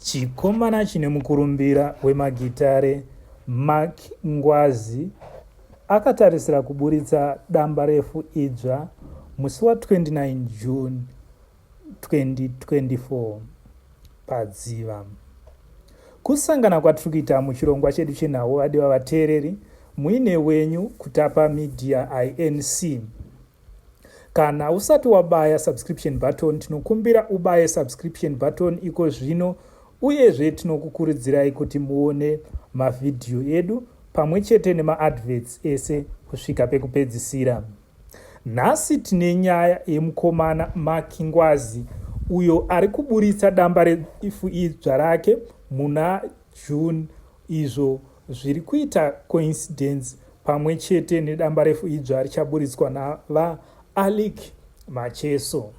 Chikomana chine mukurumbira wemagitare Mark Ngwazi akatarisira kuburitsa dambarefu idzva musi wa 29 June 2024 padziva. Kusangana kwatiri kuita muchirongwa chedu chenhau vadiwa vateereri muine wenyu kutapa media inc Kana usati wabaya subscription button tinokumbira ubaye subscription button iko zvino uyezve tinokukuridzirai kuti muone mavhidhiyo edu pamwe chete nemaadverts ese kusvika pekupedzisira nhasi tine nyaya yemukomana maki ngwazi uyo ari kuburitsa damba reifu idzva rake muna june izvo Zviri kuita coincidence pamwe chete nedambarefu idzva richaburitswa naVaAlick Macheso.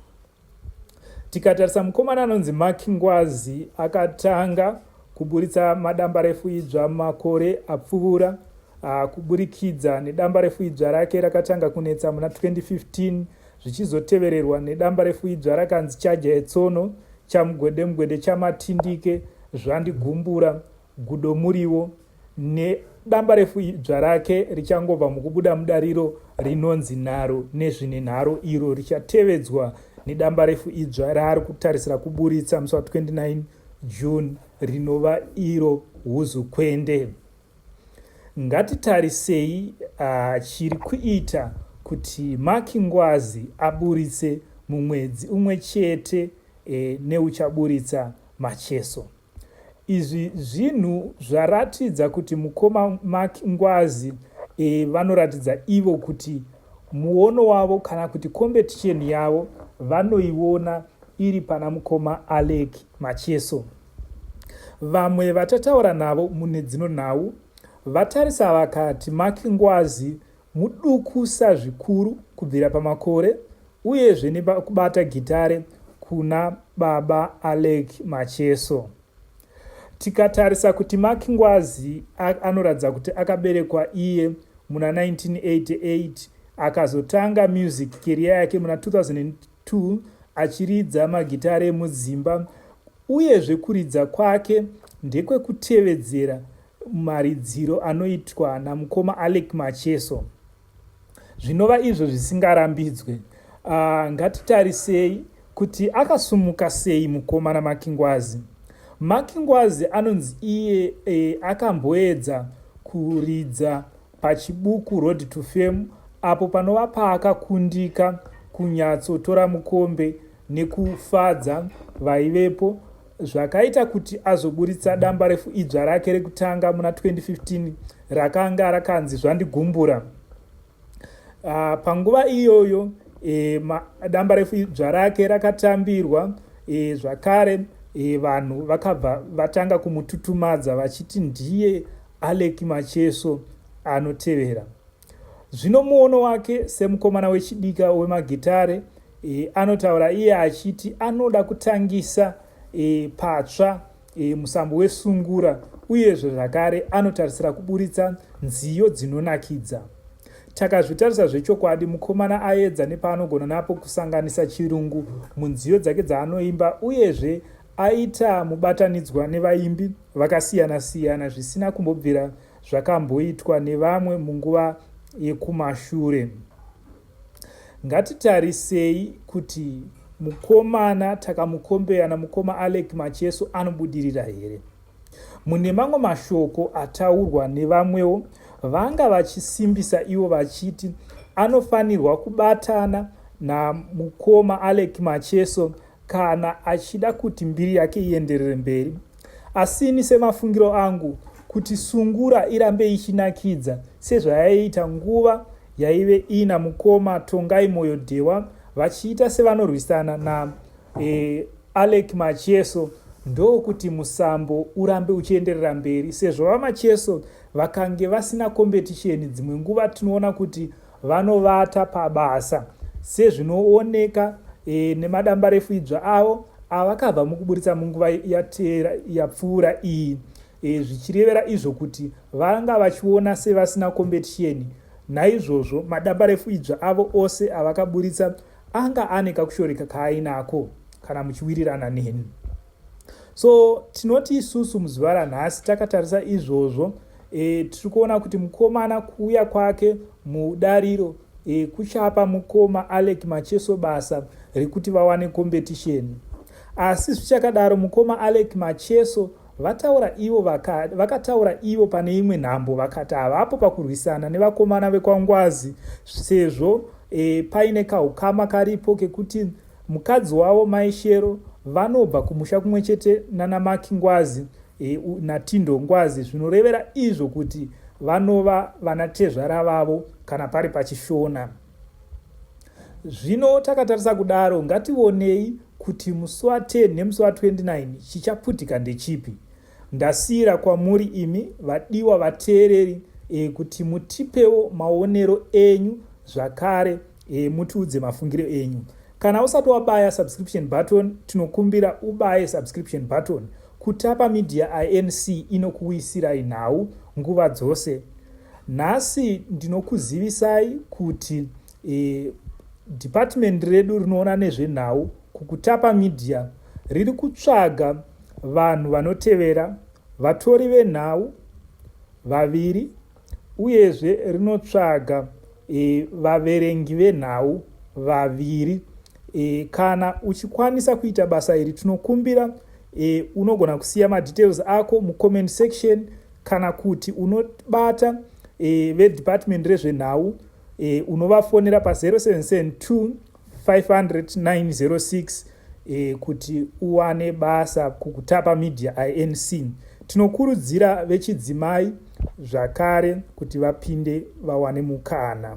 Tikatarisa mukomana anonzi Mark Ngwazi akatanga kuburitsa madambarefu idzva makore apfuura ah, kuburikidza nedambarefu idzva rake rakatanga kunetsa muna 2015 zvichizotevererwa nedambarefu idzva rakanzi chaja etsono chamugwedemugwede chamatindike zvandigumbura Gudo Muriwo nedambarefu idzva rake richangobva mukubuda mudariro rinonzi nharo nezvine nharo iro richatevedzwa nedambarefu idzva raari kutarisira kuburitsa musi wa 29 June rinova iro huzukwende. Ngatitarisei uh, chiri kuita kuti Maki Ngwazi aburitse mumwedzi umwe chete eh, neuchaburitsa Macheso. Izvi zvinhu zvaratidza kuti mukoma Mark Ngwazi e, vanoratidza ivo kuti muono wavo kana kuti competition yavo vanoiona iri pana mukoma Alec Macheso. Vamwe vatataura navo mune dzino nhau vatarisa vakati Mark Ngwazi mudukusa zvikuru kubvira pamakore uyezve nekubata gitare kuna baba Alec Macheso. Tikatarisa kuti Mark Ngwazi anoratidza kuti akaberekwa iye muna 1988 akazotanga music career yake muna 2002 2 achiridza magitare emudzimba uyezve kuridza kwake ndekwekutevedzera maridziro anoitwa namukoma alec macheso zvinova izvo zvisingarambidzwe ah, ngatitarisei kuti akasumuka sei mukomana makingwazi makingwazi anonzi iye e, akamboedza kuridza paChibuku Road to Fame apo panova paakakundika kunyatsotora mukombe nekufadza vaivepo zvakaita kuti azoburitsa damba refu idzva rake rekutanga muna 2015 rakanga rakanzi zvandigumbura ah, panguva iyoyo e, damba refu idzva rake rakatambirwa e, zvakare e, vanhu vakabva vatanga kumututumadza vachiti ndiye Aleck Macheso anotevera. Zvino muono wake semukomana wechidika wemagitare e, anotaura iye achiti anoda kutangisa e, patsva e, musambo wesungura uyezve zvakare anotarisira kuburitsa nziyo dzinonakidza. Takazvitarisa zvechokwadi, mukomana aedza nepaanogona napo kusanganisa chirungu munziyo dzake dzaanoimba uyezve aita mubatanidzwa nevaimbi vakasiyana siyana zvisina kumbobvira zvakamboitwa nevamwe munguva yekumashure. Ngatitarisei kuti mukomana Takamukombeya namukoma Alec Macheso anobudirira here. Mune mamwe mashoko ataurwa nevamwewo vanga vachisimbisa ivo vachiti anofanirwa kubatana namukoma Alec Macheso kana achida kuti mbiri yake ienderere mberi asi ini semafungiro angu kuti sungura irambe ichinakidza sezvayaiita nguva yaive ina mukoma tongai moyo dhewa vachiita sevanorwisana na e, alec macheso ndokuti musambo urambe uchienderera mberi sezvo vamacheso vakange vasina kombetisheni dzimwe nguva tinoona kuti Vanovata pabasa sezvinooneka e, nemadambarefu idzva avo avakabva mukuburitsa munguva yateera yapfuura iyi e, zvichirevera izvo kuti vanga vachiona sevasina kombetisheni naizvozvo madambarefu idzva avo ose avakaburitsa anga ane kakushoreka kaainako kana muchiwirirana neni so tinoti isusu muzuva ranhasi takatarisa izvozvo e, tiri kuona kuti mukomana kuuya kwake mudariro e, kuchapa mukoma alec macheso basa rekuti vawane competition asi zvichakadaro mukoma alec macheso vataura ivo vakataura vaka ivo pane imwe nhambo vakati havapo pakurwisana nevakomana vekwangwazi sezvo e, paine kaukama karipo kekuti Mukadzi wavo Mai Shero vanobva kumusha kumwe chete nana Maki Ngwazi e, naTindo Ngwazi zvinorevera izvo kuti vanova vanatezvara vavo kana pari paChishona. Zvino takatarisa kudaro ngativonei kuti musi wa 10 nemusi wa 29 chichaputika ndechipi ndasiyira kwamuri imi vadiwa vateereri e, kuti mutipewo maonero enyu zvakare e, mutiudze mafungiro enyu kana usati wabaya subscription button tinokumbira ubaye subscription button kutapa media inc inokuisirai nhau nguva dzose nhasi ndinokuzivisai kuti e, department redu rinoona nezvenhau kukutapa media riri kutsvaga vanhu vanotevera vatori venhau vaviri uyezve rinotsvaga e, vaverengi venhau vaviri e, kana uchikwanisa kuita basa iri tinokumbira e, unogona kusiya madetails ako mucomment section kana kuti unobata e, vedepartment rezvenhau e, unovafonera pa 0772 500906 eh, kuti uwane basa kukutapa media inc tinokurudzira vechidzimai zvakare kuti vapinde vawane mukana